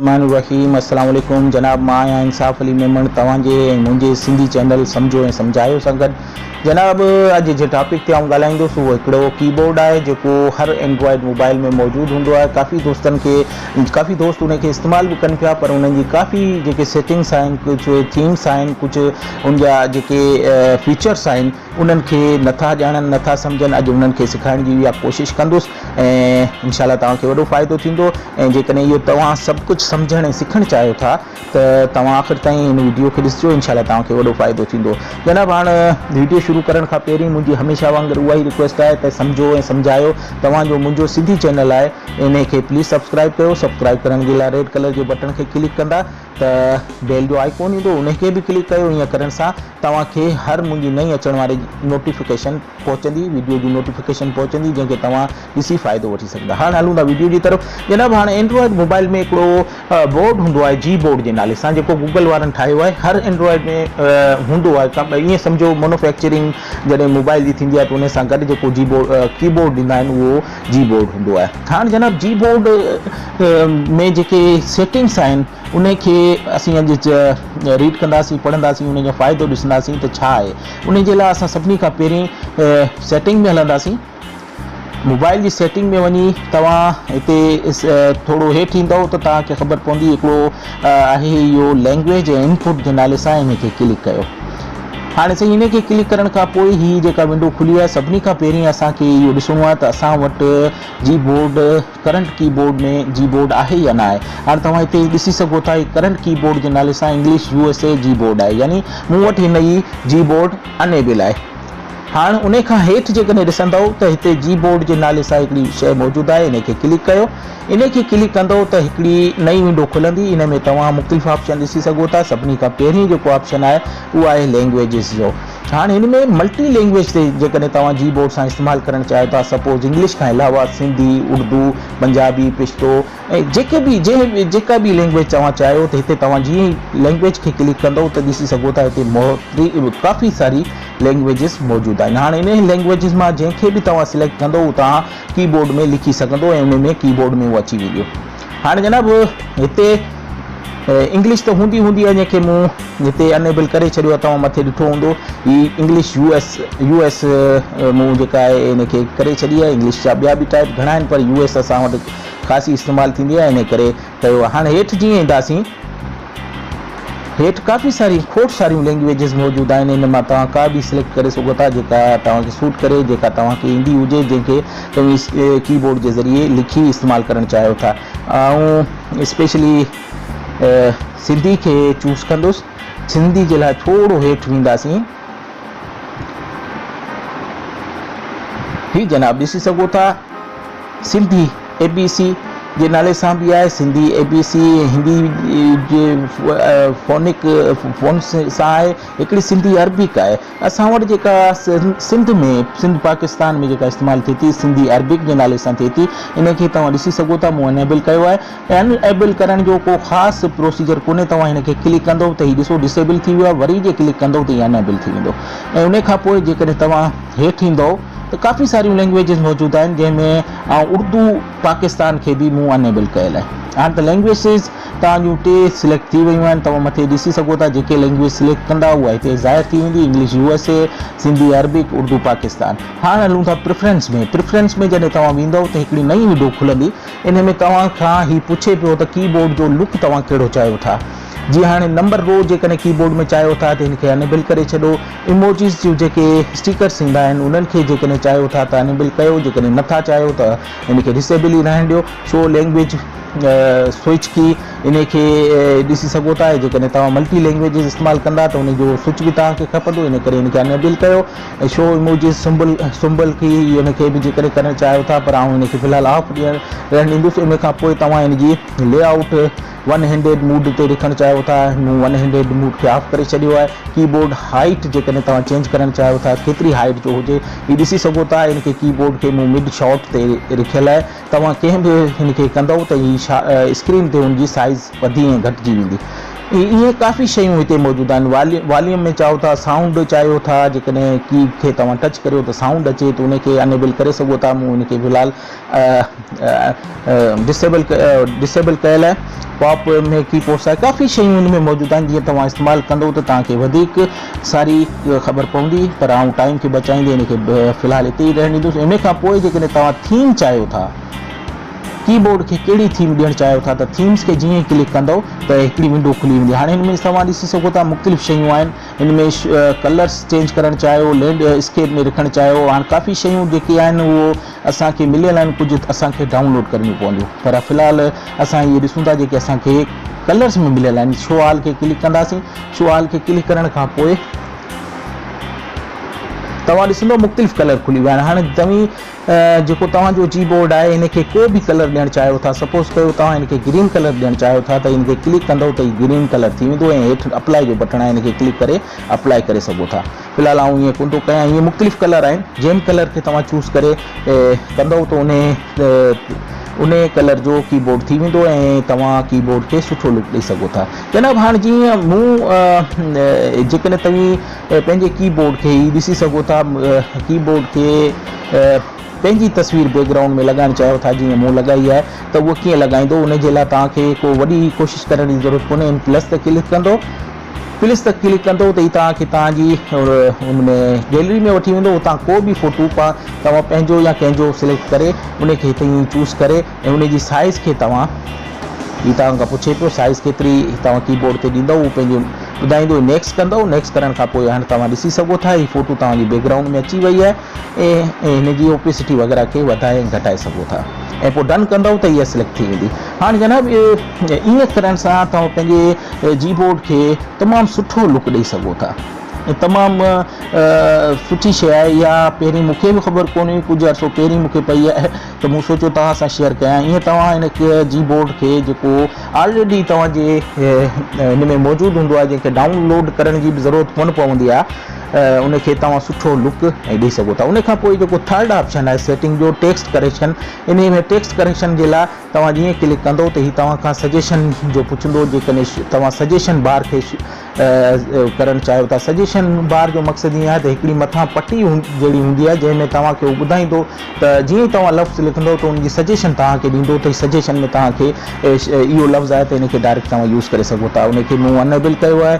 الرحمان الرحيم السلام عليڪم جناب مان آهيان انصاف علي ميمڻ توهان جي ۽ منهنجي سنڌي چينل سمجهو ۽ سمجهايو سان گڏ جناب اڄ جي ٽاپڪ تي آئون ڳالهائيندس اهو هڪڙو ڪي بورڊ آهي جيڪو هر اينڊرائڊ موبائل ۾ موجود هوندو آهي ڪافي دوستن کي ڪافي دوست ان کي استعمال به ڪن پيا پر انهن جي ڪافي جيڪي سيٽنگس آهن ڪجهه ٿيمس آهن ڪجهه ان جا جيڪي فيچرس آهن انهن کي نٿا ڄاڻن نٿا سمجهن اڄ انهن کي سکائڻ جي اها ڪوشش ڪندس ۽ انشاء الله توهان کي وڏو فائدو ٿيندو ۽ جيڪڏهن اهو توهان سڀ ڪجهه سمجهڻ ۽ سکڻ چاهيو ٿا ته توهان آخر تائين هن ويڊيو کي ڏسجو انشاء الله توهان کي وڏو فائدو ٿيندو جناب هاڻ ويڊيو شروع ڪرڻ کان پهرين منهنجي هميشه وانگر اهائي رڪويسٽ آهي ته سمجهو ۽ سمجهايو توهان جو منهنجو سنڌي چينل آهي انهي کي پليز سبسڪرائب ڪيو سبسڪرائب ڪرڻ جي لاء ريڊ ڪلر جي بٽڻ کي ڪلڪ ڪندا ته بيل جو آئيڪون ايندو انهي کي به ڪلڪ ڪيو ايئن ڪرڻ سان توهان کي هر منهنجي نئين اچڻ واري نوٽيفڪيشن پهچندي ويڊيو جي نوٽيفڪيشن پهچندي جنهن کي توهان ڏسي فائدو وٺي سگهندا هاڻ هلون ٿا ويڊيو جي طرف جناب هاڻ اينڊرائڊ موبائل ۾ هڪڙو بورڊ هوندو آهي جي بورڊ جي نالي سان جيڪو گوگل وارن ٺاهيو آهي هر اينڊرائڊ ۾ هوندو آهي ايئن سمجهو مونوفيڪچرنگ جڏهن موبائل جي ٿيندي آهي ته انهي سان گڏ جيڪو جي بورڊ ڪي بورڊ ڏيندا آهن اهو جي بورڊ هوندو آهي هاڻ جناب جي بورڊ ۾ جيڪي سيٽنگس آهن ان کي اسين اڄ ريڊ ڪنداسين پڙهنداسين ان جو فائدو ڏسنداسين ته ڇا آهي ان جي لاء اسان سڀني کان پهرين سيٽنگ ۾ هلنداسين موبائل جي سيٽنگ ۾ وڃي توهان هتي ٿورو هيٺ ايندو ته توهان کي خبر پوندي هڪڙو آهي اهو لينگويج ۽ انپوٽ جي نالي سان انهي کي ڪلڪ ڪيو هاڻي سائين انهي کي ڪلڪ ڪرڻ کان پوء هي جيڪا ونڊو کلي آهي سڀني کان پهرين اسان کي اهو ڏسڻو آهي ته اسان وٽ G board current keyboard ۾ G board آهي يا نه آهي هاڻي توهان هتي ڏسي سگهو ٿا هي ڪرنٽ ڪي بورڊ جي نالي سان English U S A G board آهي يعني مون وٽ هن هي جي بورڊ انيبل آهي هاڻ انهي کان هيٺ جيڪڏهن ڏسندؤ ته هتي جي بورڊ جي نالي سان هڪڙي شئي موجود آهي انهي کي ڪلڪ ڪيو انهي کي ڪلڪ ڪندؤ ته هڪڙي نئين ونڊو کلندي ان ۾ توهان مختلف آپشن ڏسي سگهو ٿا سڀني کان پهرين جيڪو آپشن آهي اهو آهي لينگويجز جو هاڻ هن ۾ ملٽي لينگويج تي جيڪڏهن توهان جي بورڊ سان استعمال ڪرڻ چاهيو ٿا سپوز انگلش کان علاوه سنڌي اڙدو پنجابي پشتو ۽ جيڪي به جنهن به جيڪا به لينگويج توهان چاهيو ته هتي توهان جيئن ئي لينگويج کي ڪلڪ ڪندؤ ته ڏسي سگهو ٿا هتي مهتري ڪافي ساري لينگويجز موجود آهن هاڻ انهي لينگويجز مان جنهن کي به توهان سليڪٽ ڪندؤ اتان ڪي بورڊ ۾ لکي سگهندو ۽ انهي ۾ ڪي بورڊ ۾ اهو اچي وينديو هاڻي جناب هتي انگلش ته هوندي هوندي آهي جنهن کي مون هتي انيبل ڪري ڇڏيو آهي توهان مٿي ڏٺو هوندو هي English U S U S مون جيڪا آهي ان کي ڪري ڇڏي آهي انگلش جا ٻيا به ٽائپ گهڻا آهن پر يو ايس اسان وٽ خاصي استعمال ٿيندي آهي انهي ڪري ڪيو هاڻ هيٺ جيئن اينداسين هيٺ ڪافي ساريون کوڙ ساريون لينگويجز موجود آهن ان مان توهان ڪا به سليڪٽ ڪري سگهو ٿا جيڪا توهان کي سوٽ ڪري جيڪا توهان کي ايندي هجي جنهن کي توهين ڪي بورڊ جي ذريعي لکي استعمال ڪرڻ چاهيو ٿا آئون اسپيشلي سنڌي کي چوز ڪندس سنڌي جي لاء ٿورو هيٺ وينداسين هي جناب ڏسي سگهو ٿا سنڌي اي بي سي جي نالي سان به آهي سنڌي اي بي سي هندي جي فونڪ فونس سان آهي هڪڙي سنڌي عربڪ آهي اسان وٽ جيڪا سنڌ ۾ سنڌ پاڪستان ۾ جيڪا استعمال ٿئي ٿي سنڌي عربڪ جي نالي سان ٿئي ٿي ان کي توهان ڏسي سگهو ٿا مون انيبل ڪيو آهي ان ايبل ڪرڻ جو ڪو خاص پروسيجر ڪونهي توهان هن کي ڪلڪ ڪندو ته هي ڏسو ڊسيبل ٿي ويو آهي وري جي ڪلڪ ڪندو ته هي انيبل ٿي ويندو ۽ ان کان پوء جيڪڏهن توهان هيٺ ايندو ته ڪافي ساريون لينگويجز موجود آهن جنهن ۾ آئون اردو پاڪستان کي به مون انيبل ڪيل آهي هاڻ ته لينگويسز توهان جون ٽي سليڪٽ ٿي ويون آهن توهان مٿي ڏسي سگهو ٿا جيڪي لينگويج سليڪٽ ڪندا اها هتي ظاهر ٿي ويندي English U S A Sindhi Arabic Urdu Pakistan هاڻ هلون ٿا پريفرنس ۾ پريفرنس ۾ جڏهن توهان ويندو ته هڪڙي نئين ونڊو کلندي انهي ۾ توهان کان هي پڇي پيو ته ڪي بورڊ جو لڪ توهان ڪهڙو چاهيو ٿا جي هاڻي نمبر رو جيڪڏهن ڪي بورڊ ۾ چاهيو ٿا ته هن کي انيبل ڪري ڇڏو ايموجيز جون جيڪي اسٽيڪرز ايندا آهن انهن کي جيڪڏهن چاهيو ٿا ته انيبل ڪيو جيڪڏهن نه ٿا چاهيو ته ان کي ڊسيبل ئي رهڻ ڏيو شو لينگويج سوئچ ڪي انهي کي ڏسي سگهو ٿا ۽ جيڪڏهن توهان ملٽي لينگويجز استعمال ڪندا ته انهي جو سوئچ به توهان کي کپندو ان ڪري ان کي انيبل ڪيو ۽ شو ايموجيز سمبل سمبل ڪي ان کي به جيڪڏهن ڪرڻ چاهيو ٿا پر آئون ان کي في الحال آف رهڻ ڏيندس ان کان پوء توهان ان جي layout one handed mode تي لکڻ چاهيو ٿا مون ون هينڊيڊ موڊ کي آف ڪري ڇڏيو آهي ڪي بورڊ هائيٽ جيڪڏهن توهان چينج ڪرڻ چاهيو ٿا ڪيتري هائيٽ جو هجي هي ڏسي سگهو ٿا هن کي ڪي بورڊ کي مون مڊ شاٽ تي رکيل آهي توهان ڪنهن به هن کي ڪندئو ته هي اسڪرين تي ان جي سائيز وڌي ۽ گهٽجي ويندي ائين ڪافي شيون هتي موجود آهن واليوم ۾ چاهو ٿا سائونڊ چاهيو ٿا جيڪڏهن ڪي کي توهان ٽچ ڪريو ته سائونڊ اچي ته ان کي انيبل ڪري سگهو ٿا مون ان کي في الحال ڊسيبل ڊسيبل ڪيل پاپ ۾ ڪي پوسا ڪافي شيون ان ۾ موجود آهن جيئن توهان استعمال ڪندو ته توهان کي وڌيڪ ساري خبر پوندي پر آئون ٽائيم کي بچائيندي ان کي في الحال اتي ئي رهڻ ڏيندس ان کان پوء جيڪڏهن توهان ٿيم چاهيو ٿا ڪي بورڊ کي ڪهڙي ٿيم ڏيڻ چاهيو ٿا ته ٿيمز کي جيئن ئي ڪلڪ ڪندو ته هڪڙي ونڊو کلي ويندي هاڻي هن ۾ توهان ڏسي سگهو ٿا مختلف شيون آهن ان ۾ ڪلرس چينج ڪرڻ چاهيو لينڊ اسڪيپ ۾ رکڻ چاهيو هاڻ ڪافي شيون جيڪي آهن اهو اسان کي مليل آهن ڪجهه اسان کي ڊائون لوڊ ڪرڻيون پونديون پر في الحال اسان اهي ڏسون ٿا جيڪي اسان کي ڪلرس ۾ مليل آهن شو آل کي ڪلڪ ڪنداسين شو آل کي ڪلڪ ڪرڻ کان پوء توهان ڏسندو مختلف ڪلر کلي ويا آهن هاڻي توهين جيڪو توهان جو جي بورڊ آهي ان کي ڪو به ڪلر ڏيڻ چاهيو ٿا سپوز ڪيو توهان ان کي گرين ڪلر ڏيڻ چاهيو ٿا ته ان کي ڪلڪ ڪندو ته هي گرين ڪلر ٿي ويندو ۽ هيٺ اپلائي جو بٽڻ آهي ان کي ڪلڪ ڪري اپلائي ڪري سگهو ٿا في الحال آئون ائين ڪونه ٿو ڪيان ائين مختلف ڪلر آهن جنهن ڪلر کي توهان چوز ڪري ڪندو ته انهي انهي ڪلر جو ڪي بورڊ ٿي ويندو ۽ توهان ڪي بورڊ کي سٺو لڪ ڏئي سگهو ٿا جناب هاڻ جيئن مون جيڪڏهن توهين پنهنجي ڪي بورڊ کي هي ڏسي سگهو ٿا ڪي بورڊ کي پنهنجي تصوير بيڪ گرائونڊ ۾ لڳائڻ چاهيو ٿا جيئن مون لڳائي آهي ته اهو ڪيئن لڳائيندو ان جي لاء توهان کي ڪو وڏي ڪوشش ڪرڻ جي ضرورت ڪونهي ان پلس تي ڪلڪ ڪندو پليس ته ڪلڪ ڪندو ته هي توهان کي توهان جي ان ۾ گيلري ۾ وٺي ويندو اتان ڪو به فوٽو توهان پنهنجو يا ڪنهن جو سليڪٽ ڪري ان کي هتي ائين چوز ڪري ۽ ان جي سائيز کي توهان هي توهان کان پڇي پيو سائيز ڪيتري توهان ڪيبورڊ تي ڏيندو هو پنهنجو ٻڌائيندو نيڪس ڪندو نيڪس ڪرڻ کان پوء هاڻي توهان ڏسي سگهو ٿا هي فوٽو توهان جي بيڪ گرائونڊ ۾ اچي وئي آهي ۽ هن جي اوپيسٽي وغيره کي وڌائي ۽ گهٽائي سگهو ٿا ۽ پوء ڊن ڪندئو ته اها سليڪٽ ٿي ويندي هاڻي جناب ائين ڪرڻ سان توهان پنهنجي جي بورڊ کي تمام سٺو لڪ ڏئي سگهو ٿا ۽ تمام سٺي شيء آهي اها پهرين مون کي به خبر ڪون هئي ڪجهه عرصو پهرين مون کي پئي آهي ته مون سوچيو توهان سان شيئر ڪيان ائين توهان هن کي جي بورڊ کي جيڪو آلريڊي توهان جي هن ۾ موجود هوندو آهي جنهن کي ڊائون لوڊ ڪرڻ جي به ضرورت ڪون پوندي آهي ان کي توهان سٺو لڪ ۽ ڏئي سگهو ٿا ان کان پوء جيڪو ٿرڊ آپشن آهي سيٽنگ جو ٽيڪسٽ ڪريڪشن انهي ۾ ٽيڪسٽ ڪريڪشن جي لاء توهان جيئن ڪلڪ ڪندو ته هي توهان کان سجيشن جو پڇندو جيڪڏهن توهان سجيشن بار کي ڪرڻ چاهيو ٿا سجيشن بار جو مقصد ائين آهي ته هڪڙي مٿان پٽي جهڙي هوندي آهي جنهن ۾ توهان کي هو ٻڌائيندو ته جيئن ئي توهان لفظ لکندو ته ان جي سجيشن توهان کي ڏيندو ته سجيشن ۾ توهان کي اهو لفظ آهي ته ان کي ڊائريڪٽ توهان يوز ڪري سگهو ٿا ان کي مون انيبل ڪيو آهي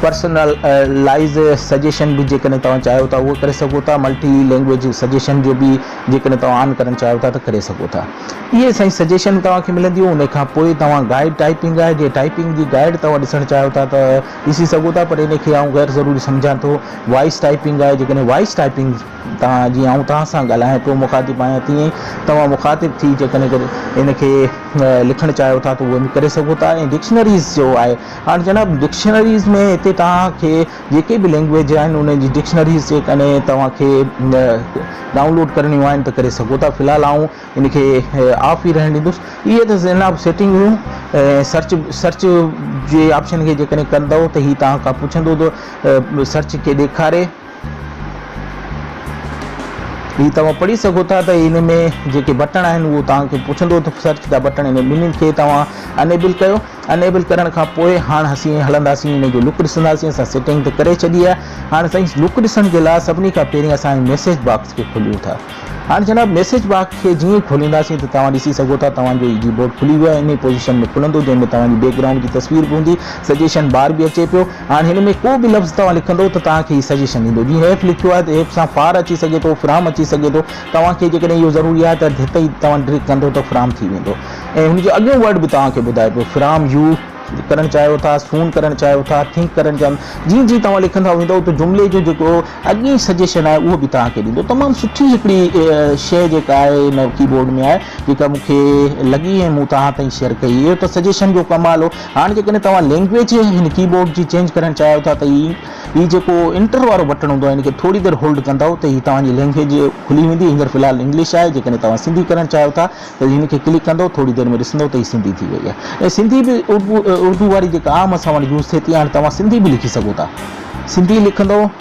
پرسنلائيز سجيشن به جيڪڏهن توهان چاهيو ٿا اهو ڪري سگهو ٿا، ملٽي لينگويج سجيشن جو به جيڪڏهن توهان آن ڪرڻ چاهيو ٿا ته ڪري سگهو ٿا. اهي سائين سجيشن توهان کي ملنديون ان کان پوء توهان گائيڊ ٽائپنگ آهي جي ٽائپنگ جي گائيڊ توهان ڏسڻ چاهيو ٿا ته ڏسي سگهو ٿا پر ان کي آئون غير ضروري سمجهان ٿو. وائيس ٽائپنگ آهي جيڪڏهن وائيس ٽائپنگ توهان جيئن آئون توهان سان ڳالهايان پيو مخاطب آهيان تيئن ئي توهان مخاطب ٿي جيڪڏهن ان کي لکڻ چاهيو ٿا ته اهو به ڪري سگهو ٿا ۽ ڊڪشنريز جو آهي هاڻ جناب ڊڪشنريز ۾ هتي توهان کي جيڪي به لينگويج آهن انهن جي ڊڪشنريز جي ڪني توهان کي ڊائون لوڊ ڪرڻيون آهن ته ڪري سگهو ٿا في الحال آئون ان کي آف ئي رهڻ ڏيندس اهي ته جناب سيٽنگ هيون ۽ سرچ سرچ جي آپشن کي جيڪڏهن ڪندو ته هي توهان کان پڇندو ته سرچ کي ڏيکاري هي توهان پڙهي سگهو ٿا ته ان ۾ جيڪي بٽڻ آهن اهو توهان کي پڇندو ته سرچ جا بٽڻ ان ٻنهين کي توهان انيبل ڪيو انيبل ڪرڻ کان پوء هاڻ اسين هلنداسين ان جو لڪ ڏسنداسين اسان سيٽنگ ته ڪري ڇڏي آهي هاڻ سائين لڪ ڏسڻ جي لاء سڀني کان پهرين اسان ميسيج باڪس کي کوليون ٿا هاڻ جناب ميسيج باڪس کي جيئن ئي کولينداسين ته توهان ڏسي سگهو ٿا توهان جو ڪي بورڊ کلي ويو آهي ان پوزيشن ۾ کلندو جنهن ۾ توهان جي بيڪ گرائونڊ جي تصوير به هوندي سجيشن بار به اچي پيو هاڻ هن ۾ ڪو به لفظ توهان لکندو ته توهان کي هي سجيشن ايندو جيئن هيٺ لکيو آهي ته ايپ سان فار اچي سگهي ٿو فرام اچي سگهي ٿو توهان کي جيڪڏهن اهو ضروري آهي ته هت ئي توهان ڊريگ ڪندو ته فرام ٿي ويندو ۽ هن جو اڳيون ورڊ به توهان کي ٻڌائي پيو فرام يو ڪرڻ چاهيو ٿا سون ڪرڻ چاهيو ٿا ٿنڪ ڪرڻ چاهيو جي جي توهان لکندا ويندو ته جملي جو جيڪو اڳين سجيشن آهي اهو به توهان کي ڏيندو تمام سٺي هڪڙي شيء جيڪا آهي هن ڪي بورڊ ۾ آهي جيڪا مون کي لڳي ۽ مون توهان تائين شيئر ڪئي اهو ته سجيشن جو ڪمال هو هاڻ جيڪڏهن توهان لينگويج هن ڪيبورڊ جي چينج ڪرڻ چاهيو ٿا ته هي جيڪو انٽر وارو بٽڻ هوندو آهي ان کي ٿوري دير هولڊ ڪندؤ ته هي توهان جي لينگويج کلي ويندي هينئر في الحال انگلش آهي جيڪڏهن توهان سنڌي ڪرڻ چاهيو ٿا ته هن کي ڪلڪ ڪندؤ ٿوري دير ۾ ڏسندؤ ته هي سنڌي ٿي وئي آهي ۽ سنڌي به اردو واري جيڪا عام اسان وٽ يوز ٿئي ٿي هاڻ توهان سنڌي به لکي سگهو ٿا سنڌي لکندؤ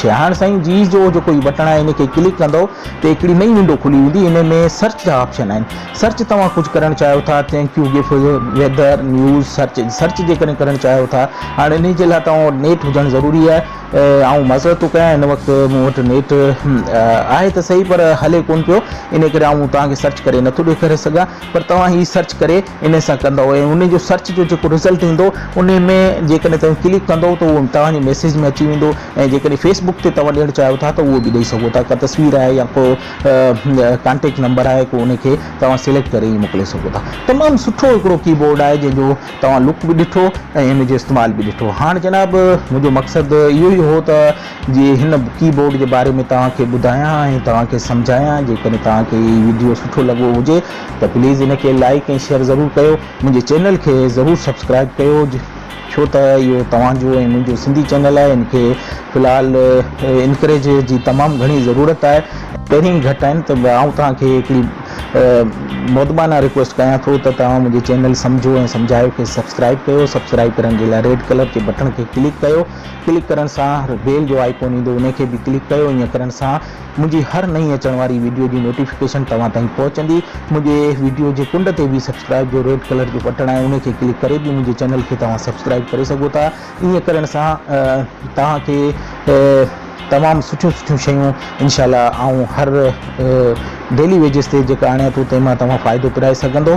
ڇي هاڻ سائين جي جو جيڪو هي بٽڻ آهي ان کي ڪلڪ ڪندو ته هڪڙي نئين ونڊو کلي ويندي ان ۾ سرچ جا آپشن آهن سرچ توهان ڪجهه ڪرڻ چاهيو ٿا thank you GIF weather news search search جيڪڏهن ڪرڻ چاهيو ٿا هاڻ انهي جي لاء توهان وٽ نيٽ هجڻ ضروري آهي آئون معذرت ٿو ڪيان هن وقت مون وٽ نيٽ آهي ته صحيح پر هلي ڪون پيو ان ڪري آئون توهان کي سرچ ڪري نٿو ڏيکاري سگهان پر توهان هي سرچ ڪري انهي سان ڪندو ۽ انهي جو سرچ جو جيڪو رزلٽ ايندو انهي ۾ جيڪڏهن توهين ڪلڪ ڪندو ته اهو توهان جي ميسيج ۾ اچي ويندو ۽ جيڪڏهن فيس بڪ تي توهان ڏيڻ چاهيو ٿا ته اهو به ڏئي سگهو ٿا ڪا تصوير آهي يا ڪو ڪانٽيڪٽ نمبر آهي ڪو انهي کي توهان سليڪٽ ڪري ائين موڪلي سگهو ٿا تمام سٺو هڪڙو ڪي بورڊ آهي جنهن جو توهان لڪ به ڏٺو ۽ انهي جو استعمال به ڏٺو هاڻ جناب منهنجو مقصد اهو ئي هو ته جي هن ڪي بورڊ جي باري ۾ توهان کي ٻڌايان ۽ توهان کي سمجهايان جيڪڏهن توهان کي هي ويڊيو سٺو لڳو هجي ته پليز ان کي لائيڪ ۽ شيئر ضرور ڪيو منهنجي چينل کي ضرور سبسڪرائيب ڪيو ڇو ته اهو توهان جو ۽ منهنجو سنڌي چينل آهي ان کي في الحال انڪريج جي تمام گهڻي ضرورت آهي. پهرين گهٽ آهن ته آئون توهان کي هڪڙي مودبانه رڪويسٽ ڪيان ٿو ته توهان منهنجي چينل سمجهو ۽ سمجهايو کي سبسڪرائيب ڪيو سبسڪرائيب ڪرڻ جي لاء ريڊ ڪلر جي بٽڻ کي ڪلڪ ڪيو. ڪلڪ ڪرڻ سان ھر بيل جو آئيڪون ايندو انھي کي به ڪلڪ ڪيو ائين ڪرڻ سان منھنجي ھر نئين اچڻ واري ويڊيو جي نوٽيفڪيشن توھان تائين پهچندي منھنجي ويڊيو جي ڪنڊ تي به سبسڪرائب جو ريڊ ڪلر جو بٽڻ آھي انھي کي ڪلڪ ڪري به منھنجي چينل کي توھان سبسڪرائب ڪري سگھو ٿا ائين ڪرڻ سان توھان کي تمام سٺيون سٺيون شيون انشاء الله آئون ھر ڊيلي ويجز تي جيڪا آڻيان ٿو تنھن مان توھان فائدو پرائي سگھندو.